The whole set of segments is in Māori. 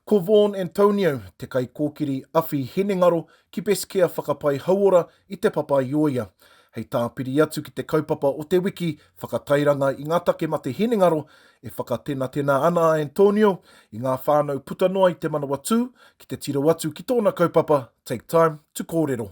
Ko Vaughan Antonio te kaikōkiri awhi hinengaro ki Beskea Whakapai Hauora i Te Papaioia. Hei tāpiri atu ki te kaupapa o te wiki whakatairanga i ngā take mate hinengaro, e whakatenatena ana a Antonio i ngā whānau puta noa i Te Manawatū ki te tiro atu ki tōna kaupapa Take Time to Kōrero.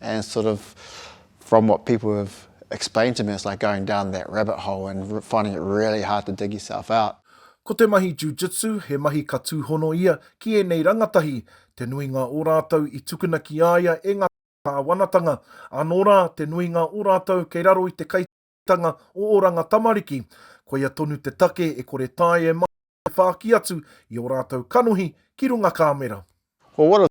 And sort of from what people have explained to me, it's like going down that rabbit hole and finding it really hard to dig yourself out. Ko te mahi jiu-jitsu, he mahi ka tūhono ia ki ēnei rangatahi, te nuinga o rātou i tukuna ki a ia e ngā kāwanatanga, anō rā, te nuinga o rātou kei raro i te kaitanga o Oranga Tamariki, koia tonu te take e kore tae e whāki atu i ō rātou kanohi ki runga kāmera. Well, what